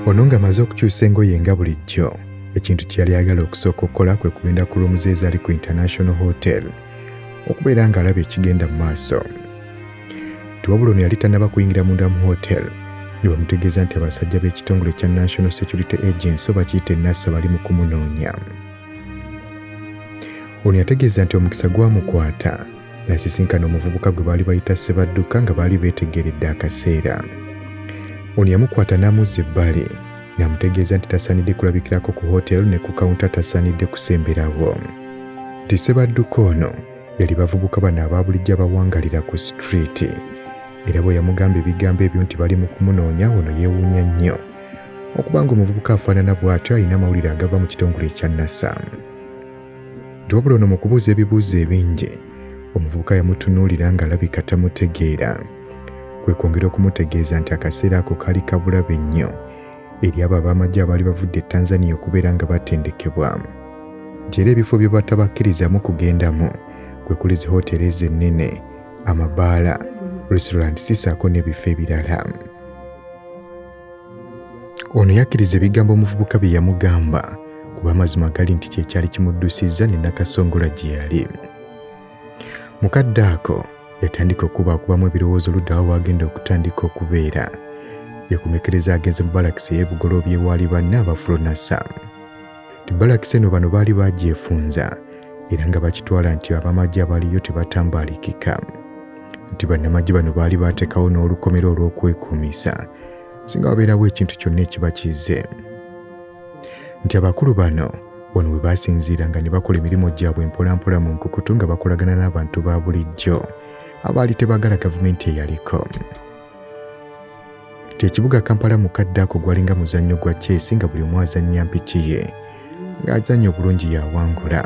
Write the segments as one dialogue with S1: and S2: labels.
S1: ono ng'amaze okukyusa engoye nga bulijjo ekintu kye yali ayagala okusooka okukola kwe kugenda ku luumu ze ezaali ku international hotel okubeera ng'alaba ekigenda mu maaso tiwabula ono yali tannaba kuyingira munda mu hotel ne bamutegeeza nti abasajja b'ekitongole kya national security agency oba kiyite nasa bali mu kumunoonya Ono yategeeza nti omukisa gwamukwata nasisinkana omuvubuka gwe baali bayita Ssebadduka nga baali beetegeredde akaseera. Ono yamukwata n'amuzza ebbali n'amutegeeza nti tasaanidde kulabikirako ku hooteeri ne ku kawunta tasaanidde kusemberawo. Nti Ssebadduka ono yali bavubuka bano aba bulijjo abawangalira ku sitiriiti era bwe yamugamba ebigambo ebyo nti bali mu kumunoonya ono yeewuunya nnyo Okuba ng'omuvubuka afaanana bw'atyo alina amawulire agava mu kitongole ekya NASA. Nti wabula ono mu kubuuza ebibuuzo ebingi, omuvubuka yamutunuulira ng'alabika tamutegeera. Kwe kwongera okumutegeeza nti akaseera ako kaali kabulabe nnyo eri abo ab'amagye abaali bavudde e Tanzania okubeera nga batendekebwa. Nti era ebifo bye batabakkirizaamu kugendamu kwe kuli zi hoteeri ezo ennene, amabaala, restaurant sisaako n'ebifo ebirala. ono yakkiriza ebigambo omuvubuka bye yamugamba kuba amazima gali nti kye kyali kimuddusizza ne nakasongola gye yali mu kadde ako yatandika okubaakubamu ebirowoozo luddawa waagenda okutandika okubeera yakomekereza agenze mu balakisi ey'ebugolobye waali banne abafulunasa Balakisi eno bano baali bagyefunza era nga bakitwala nti abamagye abaliyo tebatambalikika nti bannamagye bano baali baatekawo n'olukomera olw'okwekuumisa singa wabeerawo ekintu kyonna ekiba kizze nti abakulu bano wano we baasinziiranga ne bakola emirimu gyabwe mpolampola mu nkukutu nga bakolagana n'abantu ba bulijjo abaali tebagala gavumenti eyaliko kati ekibuga kampala mu kadde ako gwalinga muzannyo gwa chess nga buli omu azannya mpiki ye ng'azannya obulungi yawangula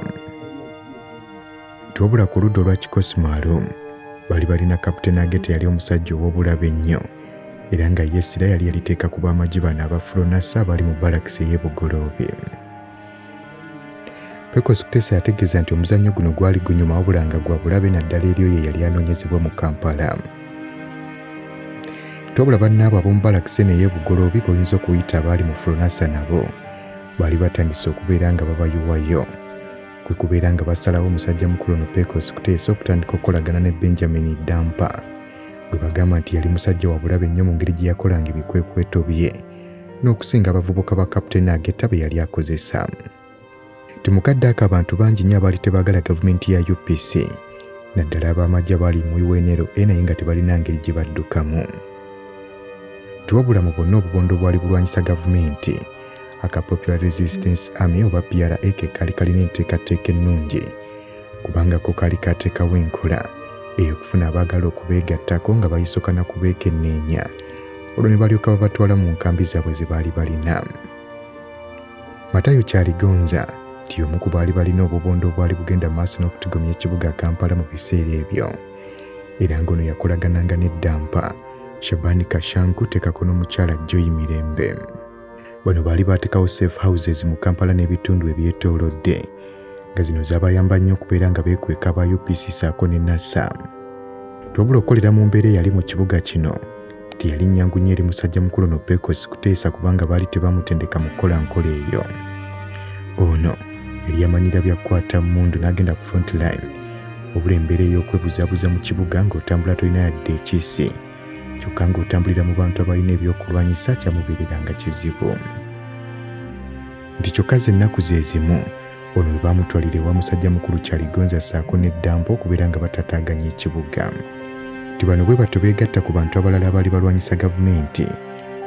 S1: twabula ku ludda olwa kikosimaalo bali balina kaputeni agete yali omusajja ow'obulabe ennyo era nga yesira yali yaliteeka ku b'amagi bano abafulonasa abali mu balakisi ey'ebugoloobi Pecos Kutesa yategeeza nti omuzannyo guno gwali gunyuma wabula nga gwa bulabe naddala eri oyo eyali anoonyezebwa mu Kampala. Tobula bannaabo ab'omu balakise naye ebugoloobi boyinza okuyita abaali mu Fulonasa nabo baali batandise okubeera nga babayiwayo kwe kubeera nga basalawo omusajja mukulu ono Pecos Kutesa okutandika okukolagana ne Benjamin Dampa gwe bagamba nti yali musajja wa bulabe nnyo mu ngeri gye yakolanga ebikwekweto bye. n'okusinga abavubuka ba Captain Ageta be yali akozesa. Ti mu kadde ako abantu bangi nnyo abaali tebaagala gavumenti ya UPC naddala ab'amagye abaali mu UNLA e naye nga tebalina ngeri gye baddukamu. Tiwabula mu bonna obubondo obwali bulwanyisa gavumenti aka Popular Resistance Army oba PRA ke kaali kalina enteekateeka ennungi kubanga ko kaali kaateekawo enkola ey'okufuna abaagala okubeegattako nga bayisokana kubeekenneenya olwo ne balyoka babatwala mu nkambi zaabwe ze baali balina. Matayo Kyaligonza nti y'omu ku baali balina obubondo obwali bugenda maaso n'okutigomya ekibuga Kampala mu biseera ebyo era ng'ono yakolagananga n'eddampa Shabani Kashanku tekako n'omukyala Joy Mirembe. Bano baali baatekawo safe houses mu Kampala n'ebitundu ebyetoolodde nga zino zaabayamba nnyo okubeera nga beekweka aba UPC saako ne NASA. Twabula okukolera mu mbeera eyali mu kibuga kino Teyalinnya ngu nnyo eri musajja mukulu no Pecos kuteesa kubanga baali tebamutendeka mu kukola nkola eyo. Ono yali yamanyira bya kukwata mmundu n'agenda ku front line wabula embeera ey'okwebuzabuza mu kibuga ng'otambula tolina yadde ekiisi kyokka ng'otambulira mu bantu abalina ebyokulwanyisa kyamubeereranga kizibu. nti kyokka z'ennaku ze zimu ono we baamutwalira ewa musajja mukulu Kyaligonza ssaako ne Ddambo okubeera nga batataaganya ekibuga nti bano bwe batyo beegatta ku bantu abalala abaali balwanyisa gavumenti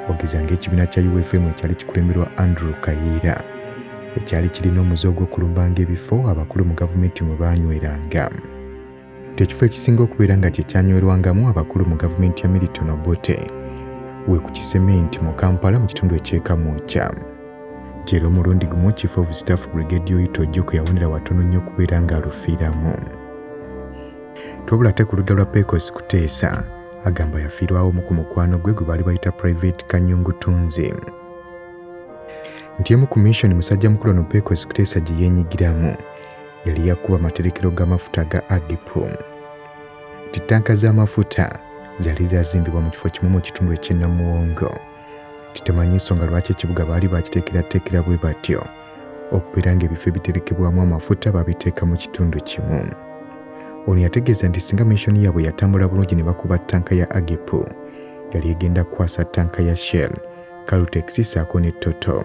S1: okugeza ng'ekibiina kya UFM ekyali kikulemberwa Andrew Kayiira ekyali kirina omuze ogw'okulumbanga ebifo abakulu mu gavumenti mwe baanyweranga. ng'ekifo ekisinga okubeera nga kye kyanywerwangamu abakulu mu gavumenti ya Milton Obote we ku kisementi mu Kampala mu kitundu eky'ekamwokya nti era omulundi gumu chief of staff brigade oyita ojjoko yawonera watono nnyo okubeera ng'alufiiramu twabula ate ku ludda lwa pecos kuteesa agamba yafiirwawo omu ku mukwano gwe gwe baali bayita private kanyungu tunzi nti emu ku mission musajja mukulu ono pecos kuteesa gye yenyigiramu yali yakuba amaterekero g'amafuta aga Adipu. Nti ttanka z'amafuta zaali zazimbibwa mu kifo kimu mu kitundu eky'ennamuwongo. Kitemanyi nsonga lwaki ekibuga baali bakiteekerateekera bwe batyo okubeera ng'ebifo ebiterekebwamu amafuta babiteeka mu kitundu kimu. Ono yategeeza nti singa mishoni yaabwe yatambula bulungi ne bakuba ttanka ya Agipu, yali egenda kukwasa ttanka ya Shell, Caltex ssaako ne Toto.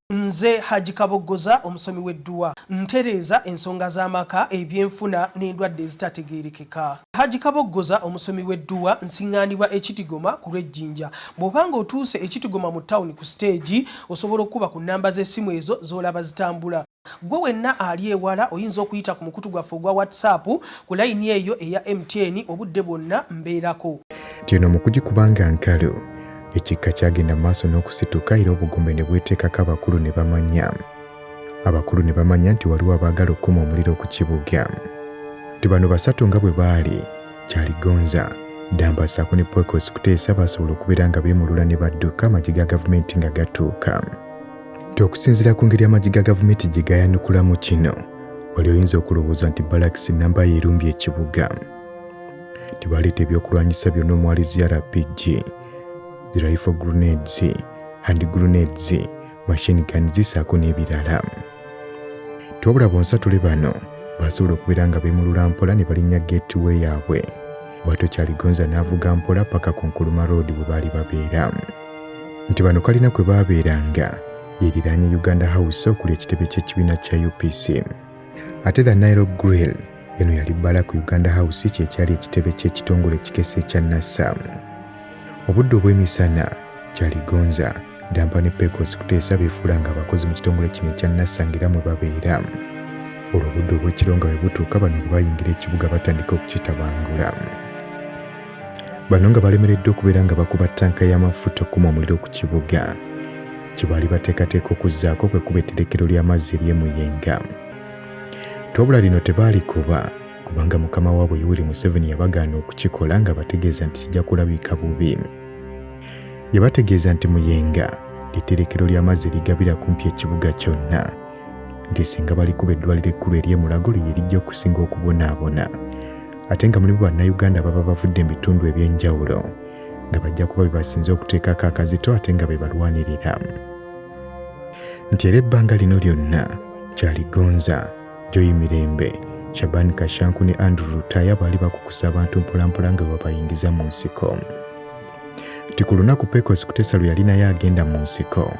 S2: Nze Hajji Kaboggoza omusomi w'edduwa. Ntereeza ensonga z'amaka, ebyenfuna n'endwadde ezitategeerekeka. Hajji Kaboggoza omusomi w'edduwa. Nsiŋŋaanibwa e Kitigoma ku lw'e Jinja. Bw'oba ng'otuuse e Kitigoma mu ttawuni ku siteegi, osobola okukuba ku nnamba z'essimu ezo z'olaba zitambula. Ggwe wenna ali ewala oyinza okuyita ku mukutu gwaffe ogwa WhatsApp ku layini eyo eya MTN obudde bwonna mbeerako. Nti eno mu
S1: kugikuba nga nkalu. Ekikka kyagenda mu maaso n'okusituka era obugumbe ne bweteekako abakulu ne bamanya. Abakulu ne bamanya nti waliwo abaagala okukuma omuliro ku kibuga. Nti bano basatu nga bwe baali, Kyaligonza, Ddamba ssaako ne Poikos Kuteesa baasobola okubeera nga beemulula ne badduka amagye ga gavumenti nga gatuuka. Nti okusinziira ku ngeri amagye ga gavumenti gye gaayanukulamu kino, wali oyinza okulowooza nti balakisi nnamba ye erumbye ekibuga. tebaleeta ebyokulwanyisa byonna omwali zi rpg zi rifle grenades hand grenades machine gun zisaako n'ebirala tobula bonsatule bano basobola okubeera nga beemulula mpola ne balinnya gateway yaabwe bwatyo kyaligonza n'avuga mpola paka ku nkuluma road bwe baali babeera nti bano kalina kwe baabeeranga yeriraanye uganda house okuli ekitebe ky'ekibiina kya upc ate the nile grill eno yali bbala ku uganda house kyekyali ekitebe ky'ekitongole ekikesa ekya nasa obudde obw'emisana kyaligonza dampa ne pecos kuteesa beefuula nga abakozi mu kitongole kino ekya nasa ngaera mwe babeera olwo obudde obw'ekiro nga bwe butuuka bano bwe bayingira ekibuga batandika okukitabangula Bano nga balemereddwa okubeera nga bakuba ttanka y'amafuta okukuma omuliro ku kibuga kye baali bateekateeka okuzzaako kwe kuba etterekero ly'amazzi ery'e Muyenga. Twabula lino tebaalikuba kubanga mukama waabwe Yoweri Museveni yabagaana okukikola nga bategeeza nti kijja kulabika bubi. Yabategeeza nti Muyenga ly'etterekero ly'amazzi erigabira kumpi ekibuga kyonna. nti singa balikuba eddwaliro ekkulu ery'e Mulago lye lijja okusinga okubonaabona ate nga mulimu bannayuganda baba bavudde mu bitundu eby'enjawulo nga bajja kuba bebasinze okuteekako akazito ate nga be balwanirira nti era ebbanga lino lyonna kyaligonza joyi mirembe shabani kashanku ne andrew lutaya baali bakukusa abantu mpolampola nga webabayingiza mu nsiko nti ku lunaku pecos kutesa lwe yalinayo agenda mu nsiko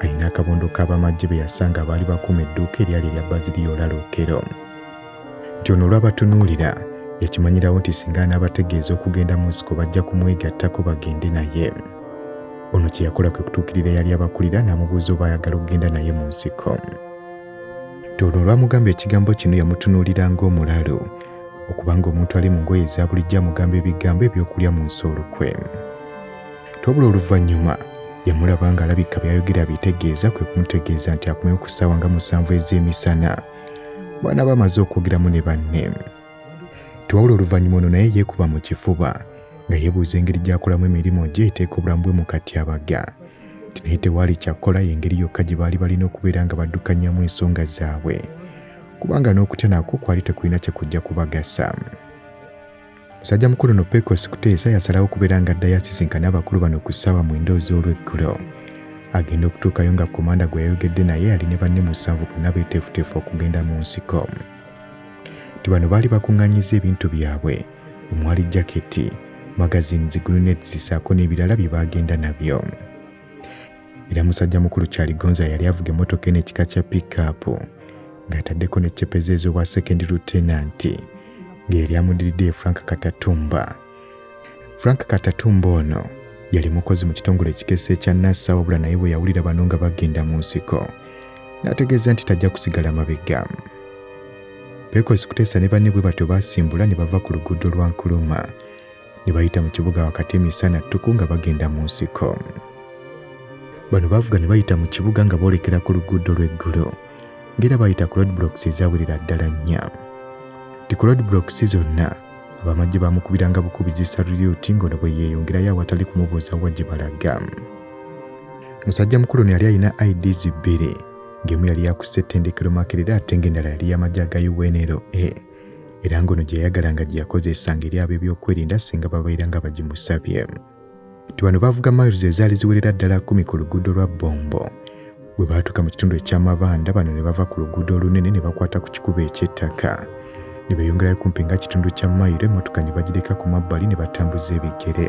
S1: alina akabondo k'abamagye be yasanga abaali bakuuma edduuka eryali erya baziriya olalookero nti ono olwabatunuulira yakimanyirawo nti singa anaabategeeza okugenda mu nsiko bajja kumwegattako bagende naye ono kye yakola kwe kutuukirira yali abakulira n'amubuuza oba ayagala okugenda naye mu nsiko nti ono olwamugamba ekigambo kino yamutunuulira ng'omulalu okubanga omuntu ali mu ngoye eza bulijjo amugamba ebigambo eby'okulya mu nsi olukwe twabula oluvannyuma yamulaba ng'alabika byayogera bitegeeza kwe kumutegeeza nti akumewo ku ssaawa nga musanvu ez'emisana bw'anaaba amaze okwogeramu ne banne twawula oluvannyuma ono naye yeekuba mu kifuba nga yeebuuza engeri gy'akolamu emirimu gye eteeka obulamu bwe mu katyabaga nti naye tewaali kyakkola y'engeri yokka gye baali balina okubeera nga baddukanyamu ensonga zaabwe kubanga n'okutya nakwo kwali tekulina kye kujja kubagasa musajja mukulu no pecos kuteesa yasalawo okubeera nga addayo asisinkane abakulu bano ku ssaawa mwenda oz'olweggulo agenda okutuukayo nga komanda gwe yayogedde naye ali ne banne musanvu bonna beeteefuteefu okugenda mu nsiko ti bano baali bakuŋŋanyiza ebintu byabwe omwali jaketi magazini ziguluneti zisaako n'ebirala bye baagenda nabyo era musajja mukulu kyaligonza yali avuga emmotoka eno ekika kya piikaapu ng'ataddeko ne cepeza ez'obwa sekendi lutenanti nga yali amudiridde ye frank katatumba frank katatumba ono yali mukozi mu kitongole ekikesa ekya nasa wabula naye bwe yawulira bano nga bagenda mu nsiko n'ategeeza nti tajja kusigala mabega beekozi kuteesa ne banne bwe batyo baasimbula ne bava ku luguudo lwa nkuluma ne bayita mu kibuga wakati emisana ttuku nga bagenda mu nsiko. Bano baavuga ne bayita mu kibuga nga boolekera ku luguudo lw'eggulo ng'era bayita ku roadblocks ezawerera ddala nnya. Ti ku roadblocks zonna abamagye baamukubiranga bukubizi salulyuti ng'ono bwe yeeyongerayo awatali kumubuuza wa gye balaga. Musajja mukulu ono yali alina IDs bbiri ng'emu yali yakussa ettendekero Makerere ate ng'endala yali y'amagye aga UNLA. era ng'ono gye yayagalanga gye yakozesanga eri ab'ebyokwerinda singa babeera nga bagimusabye nti bano baavuga miles ezaali ziwerera ddala kumi ku luguudo lwa bombo bwe baatuuka mu kitundu eky'amabanda bano ne bava ku luguudo olunene ne bakwata ku kikubo eky'ettaka ne beeyongerayo kumpi nga kitundu kya mayiro emmotoka ne bagireka ku mabbali ne batambuza ebigere